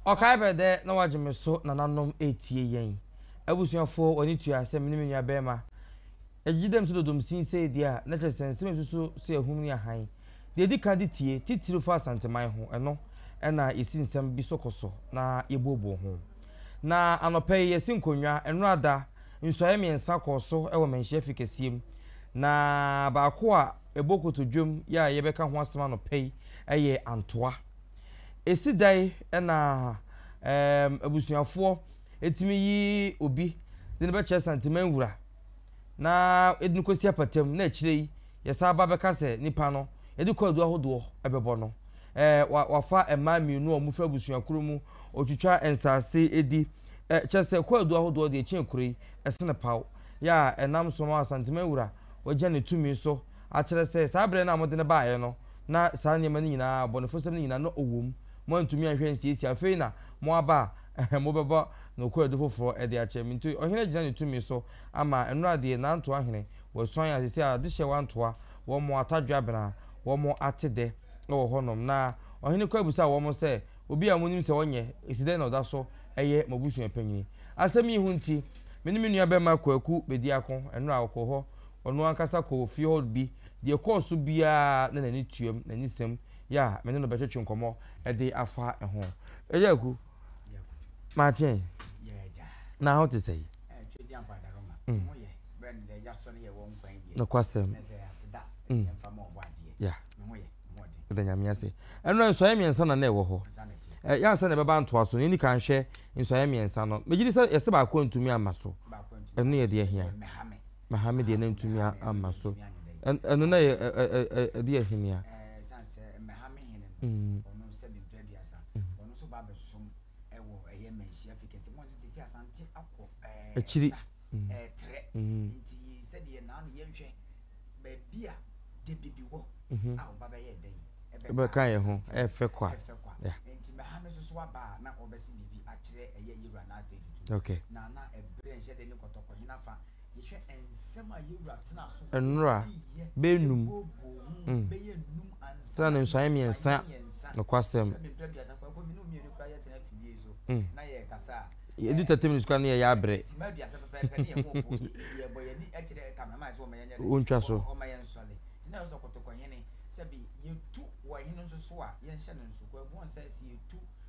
Ɔkae bɛ dɛ na wɔagye me so nananom eetsie yɛn. Abusuafo hɔn ne tua sɛ me ne me nuabɛrima. Yɛgyegye dɛm su dodom sin seedua a, na kyerɛ sɛ nsɛm a yesusu so yɛ ahum ne ahan. Dza yedzi kan dze tsie, tsitsir fa Asanteman ho, ɛno na yesi nsɛm bi so kɔ so na yebuobua ho. Na anɔpa yi yɛasi nkonnwa. Nnora da, nsuaeɛ mmiɛnsa kɔɔ so wɔ Manhyia Fi kɛseɛ mu, na baako a ɛbɔ kotodwam yi a yɛbɛka ho asɛm anɔpa yi yɛ Antoa. Ɛsi da yi na ɛɛm abusuafoɔ tumi yi obi de no bɛkyerɛ Santeman Wura, na ɛde no kɔsi apata mu, na akyire yi Yɛsan ba bɛka sɛ nipa no yɛde kwaadu ahodoɔ bɛbɔ no. Ɛɛ wa wafa mmaa mmienu a wɔfiri abusua koro mu, ɔtwitwa nsaase di. Ɛ kyerɛ sɛ kwaadu ahodoɔ deɛ ɛkyɛn kuro yi, ɛsene paw. Yɛ a ɛnam so ma Asanteman Wura wagya ne tumi so akyerɛ sɛ saa berɛ no a mode no baeɛ no na saa nneɛma no nyinaa, abɔnefosɛm no nyinaa na ɔwɔ mu. Moantumi anhwɛ ansiesie. Afei na moaba a, ɛhɛ mobɛbɔ no kwaadu foforɔ de akyɛ me. Nti ɔhene gyina ne tumi so. Ama nnora deɛ nantoa hene wɔ suan a sɛsɛ a adehyeɛ wantoa wɔn atadwe abena wɔn ate dɛ wɔ hɔ nom na ɔhene kɔ abusa wɔn sɛ obi a monim sɛ ɔnyɛ esi dɛn na ɔda so yɛ mo abusua panyini asɛm yi ho nti me ne me nua bɛma kwaku bɛdi ako nnora ɔkɔ hɔ ɔno ankasa kɔ ofie hɔ bi deɛ ɛkɔɔ so biara na n'ani tuam n'anisɛm yɛ a me ne no bɛtwetwe nkɔmmɔ de afa ho ɛyɛ aku. Makye, na ho te sɛn? Mm. Nokwasɛm. Mm. Yeah. Ɛda nyame ase. Ɛno nsɔeɛ mmiɛnsa na na ɛwɔ hɔ. Ɛyɛ ansa na ɛbɛba ntoa so no, ɛni kan hwɛ nsɔeɛ mmiɛnsa no. Megye di sɛ yɛsɛ baako ntumi amma so. Ɛno yɛ deɛ hia. Na ha me deɛ na ntumi amma so. Ɛno na yɛ ɛde ahini a. Akyiri. Ɛbɛka yɛ ho ɛfɛ kwa. Okay. Nnora bɛyɛ nnum mm tena ne nsɔano mmiɛnsa nokwasɛm mm yɛdu thirty minutes kora ne yɛyɛ abrɛ wontwa so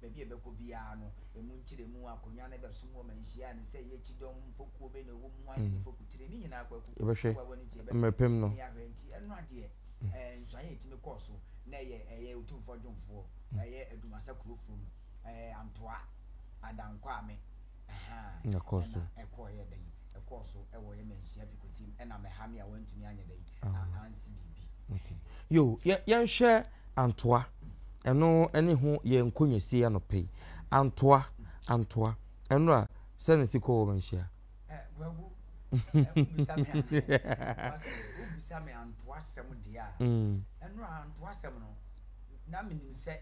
Baabi a ɛbɛkɔ biara no, emu nkyerɛmu, akonnwa no bɛsom wɔ ma nhyia a ne sɛ ɛyɛ kyidɔm, mfokuo bɛn na ɛwɔ mu, hwan ne ne fokutire, ne nyinaa kɔ akuku bi tiwawa no ti, ɛbɛpem mmerɛpem no. Ɛne ahwɛ nti, ɛno adeɛ, ɛɛ, nsuanee a ɛtumi kɔɔ so na ɛyɛ, ɛyɛ Otumfoɔ Dwomfoɔ, ɛyɛ Adumasa kurofoɔ mu, ɛɛ, Antoa, Adan Kwame. Ɛkɔɔ so. Okay. Yo, yɛ, yɛnhwɛ Antoa. Ɛno ɛne ho yɛ nkɔnyasie anɔpa yi. Antoa, Antoa. Ɛnora, sɛ na si kɔ wɔ manhyia? Eh, Guagu, wobisa me Antoa sɛ, wobisa me Antoa sɛm deɛ a, ɛnora Antoa sɛm no, na menim sɛ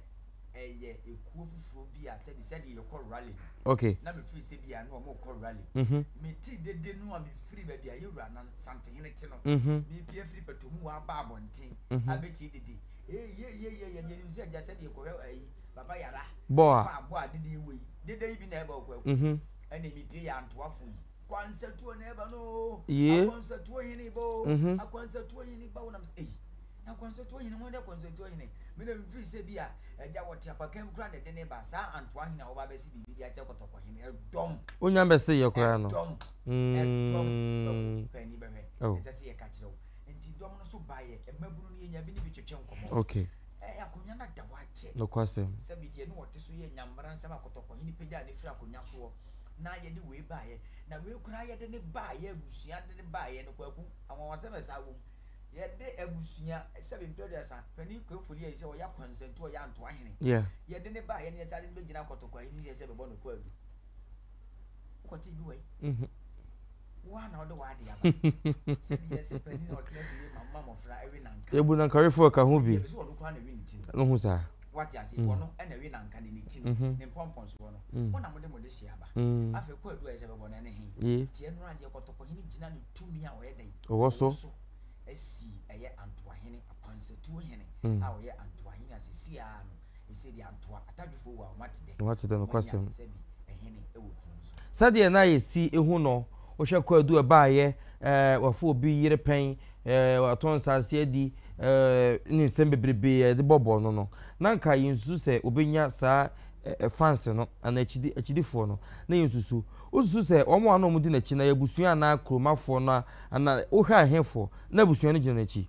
Okay. Na mefiri sɛ bia na wɔn kɔ rally. Mhm. Meti dede no a mefiri baabi a yɛwura na santehene te no. Mhm. Mepia firi pɛtɔ mu wɔ aba abɔnten. Mhm. Abeti dede. Ee ye ye ye ye deɛ nim sɛ gya sɛ deɛ kɔhwɛ ayi baba yara. Boa. Boa boa dede wei. Dede yi bi na ɛba okɔ ɛkɔ. Mhm. Ɛna mepie yɛ antoafo yi. Yee mhm. wonya bɛseyɛ koraa no okay. nokwasɛm na yɛde wei baeɛ na wei koraa yɛde ne baeɛ abusua de ne baeɛ no kwaku anwanwasɛm na ɛsaa wom yɛde abusua sɛbi mpɛduasa panin kwefoli yɛ sɛ ɔyɛ akwansantu ɔyɛ antoa hene yeah. yɛde ne baeɛ no yɛsaa de no bɛgyina kɔtɔkɔ ahene sɛ sɛ bɛbɔ no kwaadu wokɔte bi wɔ yi mm -hmm. Ebu na nka refu ɛka ho bi. No ho saa. Wate ase mm. wɔn ɛna ɛwi na nka ne ne ti no mhm. ne mpɔmpɔn so wɔ no mm. wɔn na mo de mo de hyɛ aba mm. afei kɔ edu a ɛsɛ bɛbɔ na ɛne he tiɛ nura deɛ kɔtɔkɔ hene gyina ne tumi a ɔyɛ dɛn ɔwɔ so esi ɛyɛ antoa hene akwansatuo hene a ɔyɛ antoa hene asesi a no Wɔate dɛ nokwasɛm. Sɛdeɛ na yɛsi hu no, wohwɛ kwaadu a ɛbaeɛ, eh, wɔafa obi yere pɛn, eh, wɔatɔn nsaase adi, eh, ne nsɛm bebrebe a yɛde bɔbɔɔ no no, na anka yɛnsusu sɛ wɔbɛnya saa eh, fans no anaa akyidi, akyidifoɔ no. Na yɛnsusu. Wosusu sɛ wɔn a na wɔdi n'akyi no yɛ abusua anaa kuromafoɔ no a, anaa wohwɛ a ɛhefoɔ na abusua no gyina n'akyi?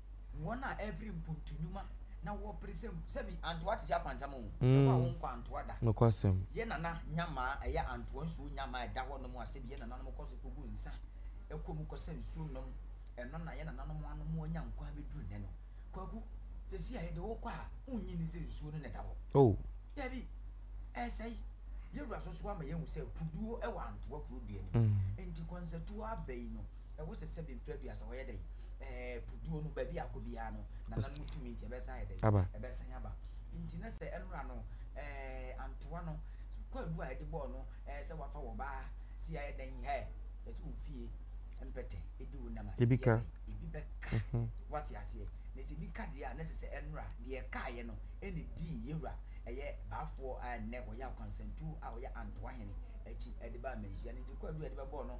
Wɔn a ɛpere mpontu nnwuma na wɔpere sɛ mu. Sɛ bi, antoa te sɛ apantam o, sɛ wo a wo nkɔ antoa da. Nokwasɛm. Yɛn nana nyamaa, ɛyɛ antoa nsuo nyamaa a ɛda hɔ nom a sɛ bi yɛn nananom kɔ so kɔgu nsa kɔ mu kɔsa nsuo nom, ɛno na yɛn nananom anom anya nkwa abɛduru nnɛ no. Kwaku, seesei a yɛde wo kɔ a, wonnye nni sɛ nsuo no na ɛda hɔ? Oh. Dabi, ɛresɛe. Yɛn wura so so ama yɛahu sɛ puduo wɔ antoa kuro dua no mu. Enti kɔnsatuo aba yi no, Ɛwɔ sɛ sɛ bɛmfiri aduasa wɔyɛ dɛn? Ɛɛ puduo no baabi a akɔ biara no nana no tumi nti ɛbɛsan ayɛ dɛn? Aba. Ɛbɛsan aba. Nti na sɛ ɛnora no ɛɛ antoa no kwaadu a ɛde bɔɔ no ɛɛ sɛ wafa wɔ baa si ayɛ dɛn hɛ ɛsɛ wo fie mpɛtɛ ɛdi wo nam a ebi ka. Ebi bɛka. Wate aseɛ? Na sɛ ebi ka deɛ a na ɛsɛ sɛ ɛnora deɛ ɛkaeɛ no ɛna ɛdi yɛwura ɛyɛ baafoɔ a ɛnnɛ ɔyɛ akwansantuo a ɔyɛ antoa hene akyi ɛde baa manhyia no nti kwaadu a ɛde bɛbɔɔ no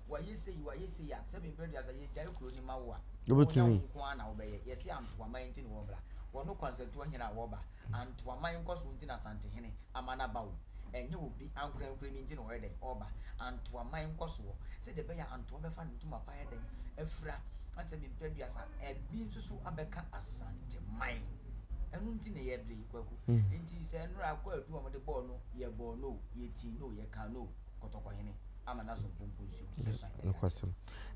Wayɛ sei, wayɛ sei a, sɛbe mprɛ duasa yɛgyae kuro no ma wo a, wɔ wo na wo nko ara na wobɛyɛ. Yɛse Antoaman nti na wɔmmra. Wɔno Kwansatuo hene a wɔba. Antoaman nkɔsoɔ nti na Asantehene ama no aba o. Ɛnyɛ obi ankorankorɛ bi nti na ɔyɛ dɛn? Ɔba. Antoaman nkɔsoɔ. Sɛdeɛ ɛbɛyɛ a Antoa bɛfa ne ntoma pa ayɛ dɛn? Afira. Na sɛbe mprɛ duasa ɛbi nso so abɛka Asanteman. Ɛno nti na yɛbre, Kwaku. Nti sɛ nnora kɔ adu a wɔde bɔɔ no, yɛbɔɔ no o, yɛtii no o, yɛkaa no o. kɔtɔkɔhene ama n'asomtompo nsu bɛsuan adi akyerɛ. Nokwasɛm.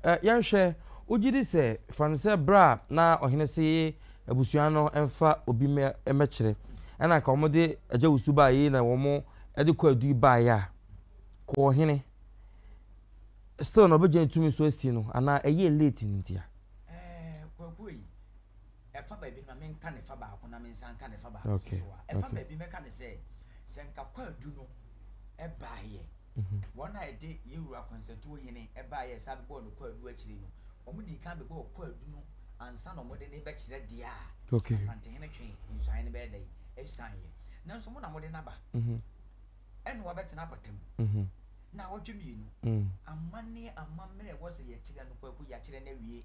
Ɛ, yɛnhwɛ, wogye di sɛ, fa no sɛ bere a na ɔhene se abusua no mfa obi mmɛ, mmɛkyerɛ, ɛna anka wɔde Agya Wusu baa yei na wɔde Kɔ Adui baeɛ a, Kɔ Ɔhene, still na ɔbɛgyina tumi so asi no anaa ɛyɛɛ late no ntia? Ɛɛ, Kwaku ei. ɛfa baabi no ma menka ne fa baako na mensan nka ne fa baako nso so a, ɛfa baabi mɛka ne sɛ, sɛ nka kwaadu no baeɛ, wɔn a ɛde Yewura Kɔnsatuo Hene baeɛ a ɛsan bɛbɔɔ no kwaadu akyire no, wɔdii kan bɛbɔɔ kwaadu no ansa na wɔde no rebɛkyerɛ deɛ a Asantehene twe nsuaeɛ no bɛyɛ dɛn asianeɛ. Nanso mo na mode no aba, ɛnna wabɛtena apata mu nnawɔtwe mmienu. Amanneɛ amammerɛ a ɛwɔ sɛ yɛkyerɛ no, Kwaku, yɛakyerɛ no awie.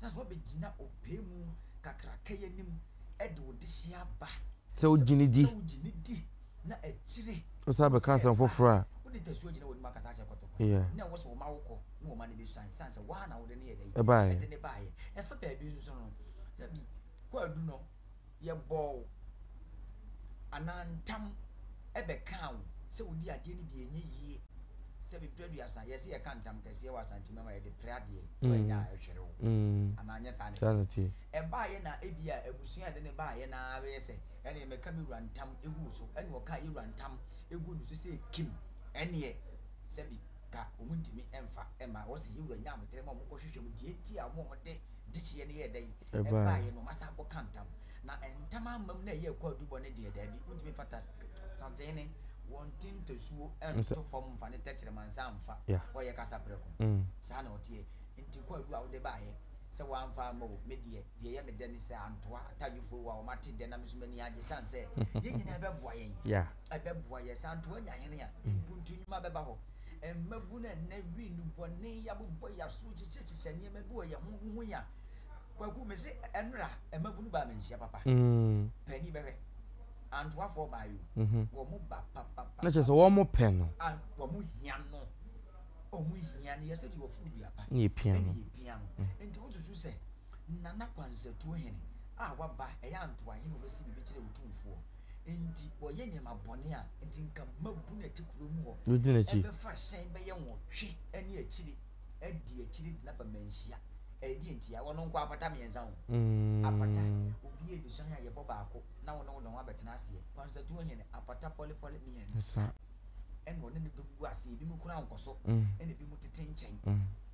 Sɛ woabɛgyina ɔpɛ mu kakraka yi anim de wo dehyeɛ aba. Sɛ wogye no di. Sɛ wogye no di na akyire. Wosan bɛka asɛm foforɔ a. Wode tasuo gyina w'anim akasa akyerɛ kɔtɔkɔ. Yeah. Na ɛwɔ sɛ wɔma wo kɔ na wɔma no bɛsuan. Ɛsiane sɛ woa na wode no yɛ dɛ. Ɛbaeɛ. Ɛde no baeɛ. Ɛfa baabi nso no, dabi, kwaadu no. Yɛbɔɔ wo, anaa ntam bɛkaa wo sɛ wodi adeɛ no bi a ɛnyɛ yie, sɛ mprɛ aduasa, yɛse yɛka ntam kɛseɛ wɔ Asante mɛma yɛde prɛ adeɛ wɔ ɛnyɛ a ɛhwere wo, anaa nyɛ saa na ɛteɛ? Ɛbaeɛ na ɛbia abusua a ɛde no baeɛ no ara bɛyɛ sɛ ɛneɛ mɛka me wura ntam ɛgu wo so, ɛne ɔkaa yɛ wura ntam ɛguu ne so sɛ Kim, ɛneɛ sɛbi. ka wɔn ntumi mfa mma hɔ sɛ yɛn wura nya abotire ma wɔn nkɔ hwehwɛ mu deɛ ɛti a wɔn a wɔn de dehyeɛ no yɛɛ dɛn ɛbaeɛ no wɔn asan akɔ ka ntam na ntam ama mu na ɛyɛ ɛkɔ adubɔ no deɛ daabi wontumi mfa ta sateene wɔn ti ntasuo nto fam mfa ne tɛkyerɛma nsa mfa hɔ yɛ kasa prɛko mm. saa na ɔteɛ nti kɔ adu a wode baeɛ sɛ wɔamfa ama o me deɛ deɛ ɛyɛ me dɛ ne sɛ antoa atadwefoɔ wɔ a wɔn ate dɛ na me nso m'ani agye sane sɛ yɛn nyinaa ɛbɛboa yɛn yeah. Ɛbɛboa yɛn. Sɛ anto woanya hene a, mpuntu nnwuma bɛba hɔ. Mmabun a nnɛ wi nnubɔne abobɔ yɛn aso kyekyɛkyekyɛ nneɛma bi wɔ yɛn ho, wohu yɛn a, Kwaku, mese ɛnnora mmabun baa manhyia papa. Panin bɛhwɛ. Antoafoɔ baa yi o, wɔn ba papapapa. Na kyerɛ sɛ wɔn pɛ no. Wɔn hia no. Wɔn hia no. Yɛsɛ deɛ wɔforo dua pa. Na yɛpia no. Na yɛpia no. Nti wosusu sɛ Nana Kwansatuo hene a waba, ɛyɛ Antoahene a ɔbɛsi biribi kyerɛ Otumfoɔ. Enti wɔyɛ nneɛma bɔne a enti nka mmabun a ɛte kurow mu hɔ Wodi n'akyi. bɛfa hyɛn bɛyɛ nwɔtwe ne akyiri adi akyiri de no aba manhyia. Ɛdeɛn ntia? Wɔn nko apata mmiɛnsa ho. Apata, obi a ɛdusɔn a yɛbɔ baako na wo ne wo ne ho abɛtena aseɛ. Kwansatuo hene, apata pɔlepɔle mmiɛnsa Nsa. ɛna ɔne ne dɔm gu aseɛ. Ebinom kura nkɔso ɛna ebinom tete nkyɛn.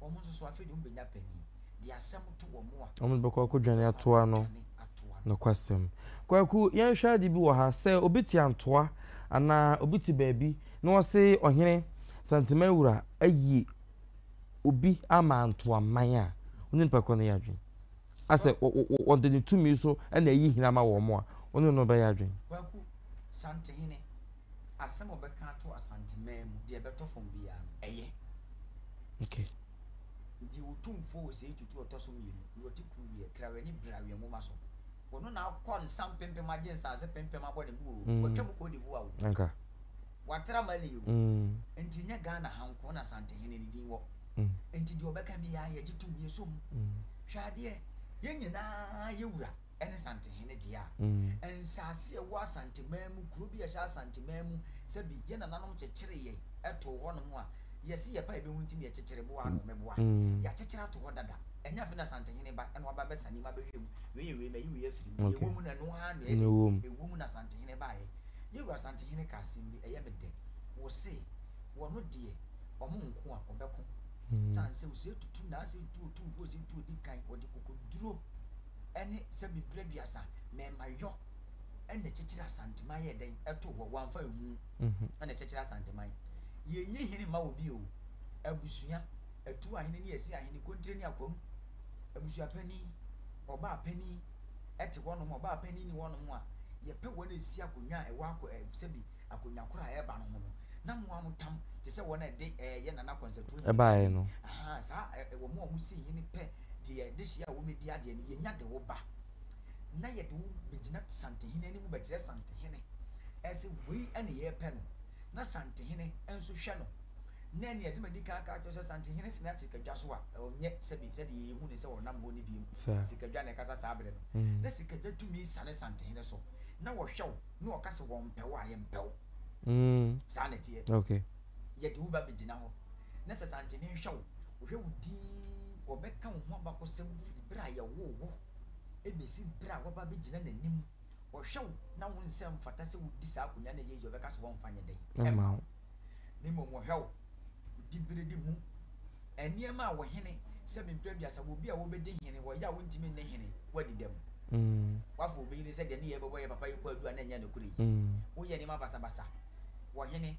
Wɔn nso so, afei de wɔbɛnya panin de asɛm to wɔn a. Wɔn de bɛkɔ akɔdwane atoa no nokwasɛm. Kwaku, yɛnhwɛ ade bi wɔ ha. Sɛ obi te Antoa anaa obi te baabi na ɔse Ɔhene Santemawura ayi obi ama Antoaman a, wo ne no bɛkɔ no yɛ adwene? Asɛ ɔde ne tumi so na ayi hene ama wɔn a, wo ne no bɛyɛ adwene? Kwaku, Santehene Asɛm a wɔbɛka ato Asanteman mu, deɛ ɛbɛtɔ fam biara no, ɛyɛ. Okay. Deɛ Otumfoɔ Osei Tutu a ɔtɔ so mmienu, deɛ ɔte Kuruweɛ, Kraweɛ ne Braweɛ nwoma so, ɔno na akɔ nsa mpempem agye nsaase pempem abɔ ne bo oo, watwam kɔ Odivoa oo, Anka. watra Mali oo, enti ɛnyɛ Ghana ha nko na Asantehene no din wɔ, enti deɛ ɔbɛka biara yɛgye tom, yɛsɔ mu. Hwɛ adeɛ, yɛn nyinaa yɛ wura. ne Santehene dea. Nsaase a ɛwɔ Asanteman mu, kuro bi a ɛhyɛ Asanteman mu, sɛbi yɛn nananom kyekyere yɛn too hɔnom a, yɛse yɛpa yɛbɛhu nti na yɛkyekyere boa ano, meboa. Yɛakyekyere ato hɔ dada. Ɛnyɛ afei na Asantehene ba na waba abɛsa nneɛma abɛhwɛ mu, wei yɛ wei, mayi wei afiri mu. Deɛ ɛwɔ mu no, ɛno ara na ɛyɛ dɛn? Ɛwɔ mu na Asantehene baeɛ. Yɛn Wura Asantehene kaa asɛm bi, ɛyɛ me dɛ. Ɔse, wɔno deɛ, wɔn nko a wɔbɛko. Ɛsiane sɛ ɔse tutu na asɛ tu otumfoɔ ɔse tu ɔdi kan, ɔde kokoduro. ɛne sɛ mebere aduasa mɛma yɔ ɛna ɛkyekyere asanteman yɛ dɛn ɛto hɔ wɔamfa ɛhu ɛna ɛkyekyere asanteman yɛnyi hene ma wɔ bi o abusua atu ahene ne yɛsi ahene kontire ne akwam abusua panin ɔbaa panin ɛte hɔ nom ɔbaa panin ne hɔ nom a yɛpɛ wɔn ɛsi akonwa a ɛwɔ akɔ ɛsɛbi akonwa koro a ɛba no ho no na mo a mo tam te sɛ wɔn ɛde ɛyɛ nana kɔnsɛtoɔ ɛbaeɛ no saa ɛwɔ mo a mo si hene pɛ Deɛ dehyeɛ a wɔmɛdi adeɛ no, yɛnya de wo ba, na yɛde wo bɛgyina Santehene anim bɛkyerɛ Santehene sɛ wei ne yɛrepɛ no, na Santehene nso hwɛ no. Na ɛnneɛ ɛsɛ madi kan aka akyerɛ wo sɛ Santehene sene Asikadwa so a, ɔnyɛ sɛbe sɛdeɛ yɛhu no sɛ ɔnam hɔ no bio. Sikadwa na ɛkasa saa berɛ no. Na Sikadwa tumi sane Santehene so, na ɔhwɛ wo, na ɔka sɛ wɔmpɛ wo a, yɛmpɛ wo. Saa na ɛteɛ. Yɛde wo bɛbɛgyina hɔ, na sɛ santene nhwɛ wo, wɔhwɛ wo dinn, wɔbɛka wo ho abakɔsɛm firi berɛ a yɛwoo wo bɛsi berɛ a woaba abɛgyina n'anim. Wɔhwɛ wo na wo nsɛm mfata sɛ wodi saa akonnwa no a ɛyɛ yie a wɔbɛka sɛ wɔmfa nyɛ dɛn mma wo, na mmom wɔhwɛ wo diberedi mu nneɛma a wo hene, sɛ me mprɛ aduasa wɔ obi a ɔbɛdi hene, wɔ yɛ a wontumi nni hene, woadi dɛm, woafa obi yere sɛ deɛ ne yɛɛ bɛbɔ yɛ papa yi kwaadu a na ɛnyɛ nokorɛ yi, woyɛ nneɛma basabasa wɔ hene.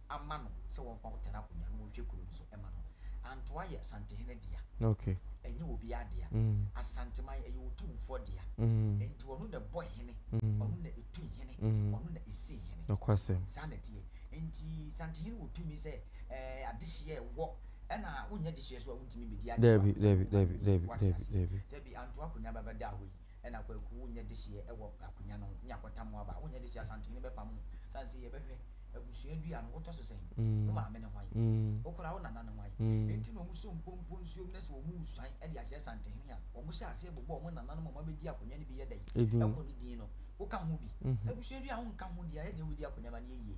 ama no sɛ wɔmfa hɔ tena akonnwa na wɔnhwɛ kuro no so mma no. Antoa yɛ Asantehene dea, ɛnyɛ obiara dea. Asanteman, ɛyɛ Otumfoɔ dea. Enti ɔno na ɛbɔ hene, ɔno na ɛtu hene, ɔno na ɛsi hene. Saa na ɛteɛ. Enti Santehene wɔ tumi sɛ adehyeɛ ɛwɔ ɛna wonyɛ dehyeɛ so a wontumi mmɛdi adeɛ wɔ akonnwa no mu ma no yie. Woate aseɛ? Sɛ bi Antoa akonnwa bɛbɛda hɔ yi, ɛna kwaku wo nyɛ dehyeɛ ɛwɔ akonya no ho ne akɔta mo aba wo nyɛ dehyeɛ asantehene bɛpa mo sane sɛ yɛbɛhwɛ abusua dua no wotɔ so sɛn wo maame ne hwan wo kora wo nana ne hwan enti na ɔmu so mpompo nsuo mu na sɛ ɔmu suan ɛde akyerɛ asantehene a ɔmu hyɛ aseɛ bobɔ ɔmo nana nom ɔmo abɛdi akonya no bi yɛ dɛn ɛkɔ ne din no wo ka ho bi abusua dua wo nka ho deɛ ayɛ den wobɛdi akonya ma ne yɛ yie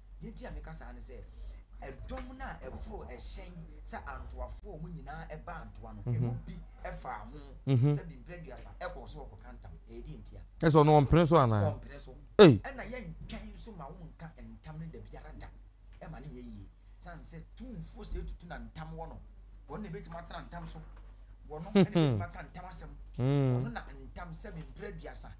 Deɛ nti a meka saa ne sɛ, ɛdɔm no a ɛforo hyɛn sɛ antoafoɔ a wɔn nyinaa baa ntoa no, ɛmu bi faa ho sɛ bi mprɛ aduasa kɔɔ so rekɔka ntam. Ɛyɛ deɛ nti a? Kyerɛ sɛ ɔno ɔmpene so anaa? Ɔmpene so. Ei! Ɛnna yɛntwɛn nso ma wonka ntam no da biara da. Ɛma no nyɛ yie. Ɛsiane sɛ tumfoɔ sɛɛ tutu na ntam wɔ no. Ɔno na ɛbɛtumi atena ntam so. Ɔno na ɛbɛtumi aka ntam asɛm. Ɔno na ntam sɛ bi mprɛ aduasa.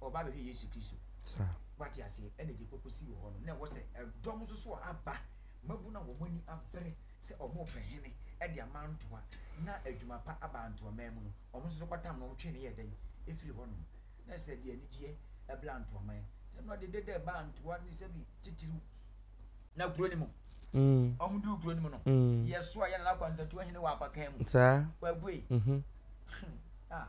ɔba bɛhwɛ Yesu Kristo. Saa. Wate aseɛ? Ɛna deɛ ɔkɔsii wɔ hɔ no, na ɛwɔ sɛ ɛdɔm nso so a aba, mmabunu a wɔn ani abere sɛ wɔrepɛ hene de amantoa na adwuma pa aba Antoaman mu no, wɔn nso so kɔtam na wɔtwee no yɛɛ dɛn? Ɛfiri hɔnom. Na ɛsɛ sɛ ɛde anigyeɛ ɛbla Antoaman. Nti ɛno ɛde dede ɛbaa Antoa ne sɛbi titiriw. Na kuro no mu, wɔn duu kuro no mu no, Yɛsoa yɛ Nana Kwansatuo hene wɔ Apakan mu. Saa. Kwaku ei. Hmm. Ah.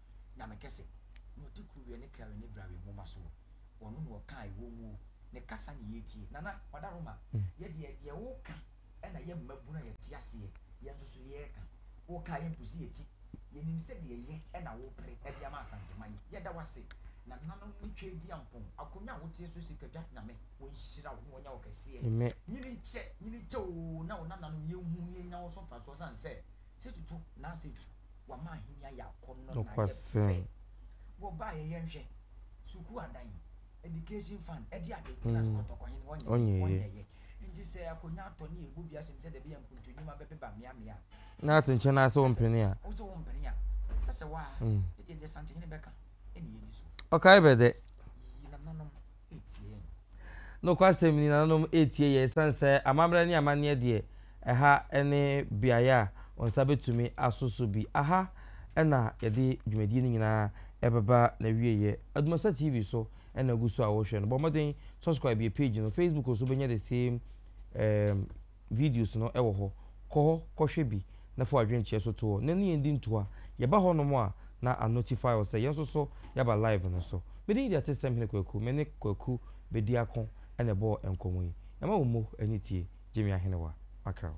Nyame kɛse, na ɔte kuruwɛ ne krawe ne brawe nwoma soɔ, ɔno na ɔka a ɛwɔ muo, ne kasa na yɛretie. Nana, Kwada Roma, yɛ deɛ, deɛ woka na yɛ mmabunu a yɛte aseɛ, yɛn nso so yɛreka. Woka a yɛmpo si yɛ ti, yɛnim sɛ deɛ yɛ na wopere de ama Asanteman yi. Yɛda wo ase, Nananom ne Tweediampɔn, akonwa a woteɛ so si Kwadwa, Nyame ɔnhyira wo na ɔnyɛ wo kɛseɛ. Nyini nkyɛ, nyini nkyɛ oo, na wo nananom yɛnhu na yɛnya wo so mfasoɔ sane sɛ Nokwasɛm. Mm. Ɔnyɛeɛ. Na ate nkyɛn ara sɛ wompene a. Mm. Ɔkae bɛ dɛ. Nokwasɛm ni, nananom retie yɛn esiane sɛ amammerɛ ne amanneɛ deɛ, ɛha ne beaeɛ a wɔn nsa bɛtumi aso so bi. Aha na yɛde dwumadie no nyinaa ɛbɛba n'awieeɛ. Adumasa TV so na ɛgu so a worehwɛ no. Bɔ mmɔden subscribe yɛn page no. Facebook nso wobɛnya the same. videos no wɔ hɔ, kɔ hɔ kɔhwɛ bi na fa w'adwenkyerɛ so to hɔ na ne yɛn di ntoa, yɛba hɔnom a na a notify wo sɛ yɛn nso so yɛaba live no so. Me din de Atesɛm Hene Kwaku, me ne Kwaku Bediako na ɛbɔɔ nkɔmmɔ yi. Ɛma wo mmo ani tie Gyimie Ahenewa akra wo.